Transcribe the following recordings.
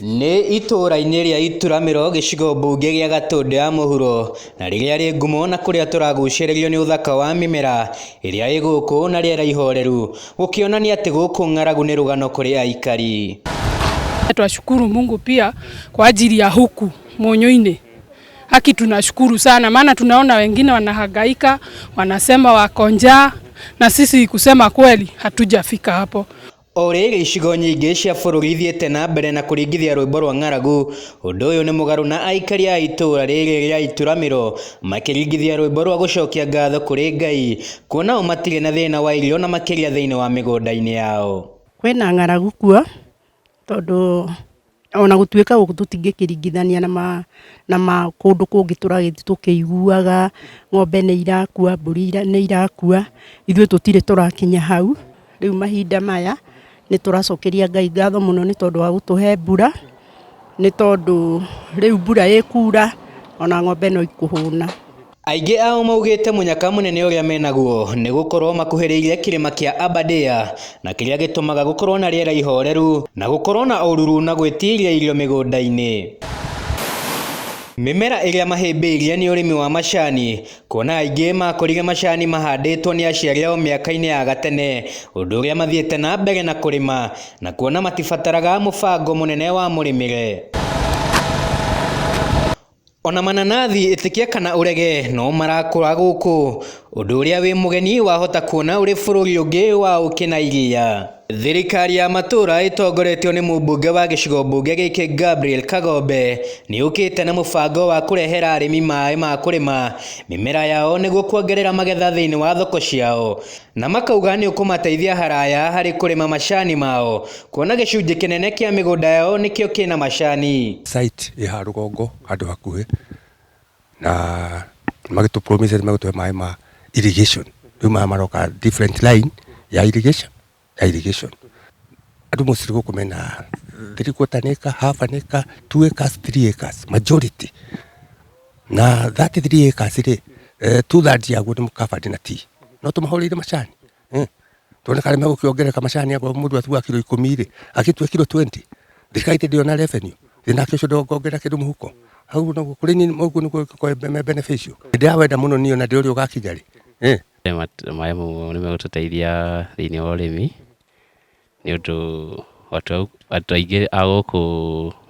Nĩ itũũra-inĩ rĩa Ituramĩro gĩcigo mbunge gĩa Gatũndũ ya mũhuro, na rĩrĩa rĩ ngumo na kũrĩa tũragucĩrĩrio nĩ ũthaka wa mĩmera ĩrĩa ĩ gũkũ na rĩera ihoreru, gũkĩonania atĩ gũkũ ng'aragu nĩ rũgano kũrĩ aikari. Twashukuru Mungu pia kwa ajili ya huku Munyuini. Haki tunashukuru sana, maana tunaona wengine wanahangaika, wanasema wako njaa, na sisi kusema kweli hatujafika hapo. O rĩrĩ, icigo nyingĩ cia bũrũri ithiĩte na mbere na kũringithia rwĩmbo rwa ng'aragu. Ũndũ ũyũ nĩ mũgarũ na aikaria a itũũra rĩrĩ rĩa Ituramĩro makĩringithia rwĩmbo rwa gũcokia ngatho kũrĩ Ngai, kuona o matirĩ na thĩna wa irio na makĩria thĩinĩ wa mĩgũnda-inĩ yao. Kwĩna ng'aragu kuo tondũ... O na gũtuĩka gũkũ tũtingĩkĩringithania na ma, na ma kũndũ kũngĩ tũragĩthiĩ tũkĩiguaga ng'ombe nĩ irakua, mbũri nĩ irakua, ithuĩ tũtirĩ tũrakinya hau. Rĩu mahinda maya nĩ tũracokeria Ngai ngatho mũno nĩ tondũ wa gũtũhe mbura, nĩ tondũ rĩu mbura ĩkuura o na ng'ombe no ikũhũna. Aingĩ ao maugĩte mũnyaka mũnene ũrĩa menaguo nĩ gũkorwo makuhĩrĩirie kĩrĩma kĩa Aberdare na kĩrĩa gĩtũmaga gũkorwo na rĩera ihoreru na gũkorwo na ũruru na gwĩtiria irio mĩgũnda-inĩ. Mĩmera ĩrĩa mahĩmbĩirie nĩ ũrĩmi wa macani kuona aingĩ makorire macani mahandĩtwo nĩ aciari ao mĩaka-inĩ ya gatene ũndũ ũrĩa mathiĩte na mbere na kũrĩma na kuona matibataraga mũbango mũnene wa mũrĩmĩre. Ona mananathi ĩtĩkia kana ũrege no marakũra gũkũ, ũndũ ũrĩa wĩ mũgeni wahota kuona ũrĩ bũrũri ũngĩ wa ũkĩ na iria. Thirikari ya matũra ĩtongoretio nĩ mũmbunge wa gĩcigo mbunge gĩkĩ Gabriel Kagombe nĩyũkĩte na mũbango wa kũrehera arĩmi maĩ ma kũrĩma mĩmera yao nĩguo kuongerera magetha thĩinĩ wa thoko ciao na makauga nĩ ũkũmateithia haraya harĩ kũrĩma macani mao kuona gĩcunjĩ kĩnene kĩa mĩgũnda yao nĩkĩo kĩna macani. Site ĩ ha rũgongo handũ hakuhĩ na magĩtũ promise atĩ magũtũhe maĩ ma irrigation rĩu maya maroka different line ya irrigation ya irrigation andũ mostly gũkũ mena three quarter an acre, half an acre, two acres, three acres majority na 33 acres rĩ eh, two thirds yaguo nĩ mũkabati na tea no tũmahũrĩire macani eh, tuone kana megũkĩongereka macani akorwo mũndũ atuga kiro ikũmi rĩ agĩtue kiro 20 thirikari ĩndĩ ndĩona revenue thĩ nake ũcio ndongongerera kĩndũ mũhuko hau naguo kũrĩ niĩ ũguo nĩguo ngĩkorwo me beneficial hĩndĩ ya wenda mũno niĩ ona ndĩ ũrĩa ũgakinya rĩ eh, Maĩ mau nĩ megũtũteithia thĩinĩ wa ũrĩmi Nĩ ũndũ andũ aingĩ a gũkũ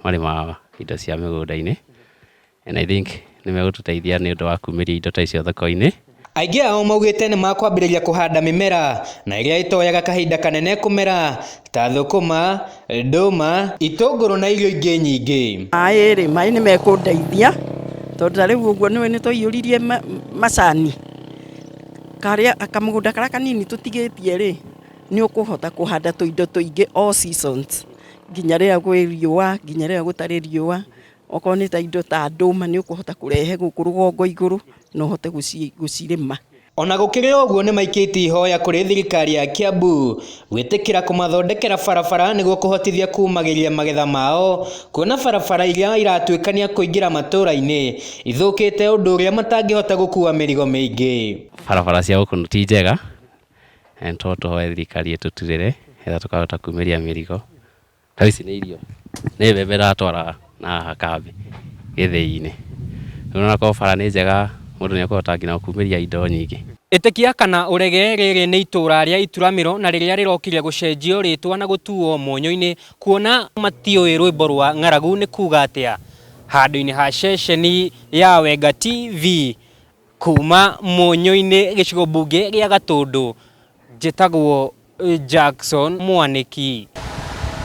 marĩmaga indo cia mĩgũnda-inĩ and I think nĩ megũtũteithia nĩ ũndũ wa kumĩria indo ta icio thoko-inĩ. Aingĩ ao maugĩte nĩ makwambĩrĩria kũhanda mĩmera na ĩrĩa ĩtoyaga kahinda kanene kũmera ta thũkũma, ndũma, itũngũrũ na irio ingĩ nyingĩ. Maĩ rĩ, maĩ nĩ mekũndeithia tondũ ta rĩu ũguo nĩ ũĩ nĩ twaiyũririe macani, kamũgũnda karĩa kanini tũtigĩtie rĩ. Nĩ ũkũhota kũhanda tũindo tũingĩ all seasons nginya rĩrĩa gwĩ riũa nginya rĩrĩa gũtarĩ riũa. Okorwo nĩ ta indo ta ndũma nĩ ũkũhota kũrehe gũkũ rũgongo igũrũ na ũhote gũcirĩma. Ona gũkĩrĩ ũguo nĩ maikĩtie ihoya kũrĩ thirikari ya Kiambu gwĩtĩkĩra kũmathondekera barabara nĩguo kũhotithia kumagĩria magetha mao kuona barabara iria iratuĩkania kũingĩra matũra-inĩ ithũkĩte ũndũ ũrĩa matangĩhota gũkua mĩrigo mĩingĩ. Barabara cia gũkũ ti njega na nĩ tũhoe thirikari ĩtũturĩre nĩgetha tũkahota kumĩria mĩrigo. Ta rĩu ici nĩ irio, nĩ mbembe ĩratwara na haha kambĩ gĩthĩi-inĩ. Rĩu ona korwo bara nĩ njega mũndũ nĩ ekũhota nginya gũkumĩria indo nyingĩ. Ĩtĩkia kana ũrege, rĩrĩ nĩ itũũra rĩa Ituramĩro na rĩrĩa rĩrokire gũcenjio rĩtwa na gũtuwo Mũnyũ-inĩ, kuona matiũĩ rwĩmbo rwa ng'aragu nĩ kuuga atĩa. Handũ-inĩ ha ceceni ya Wenga TV. Kuuma Mũnyũinĩ gĩcigo mbunge gĩa Gatũndũ, njĩtagwo Jackson Mwanĩki.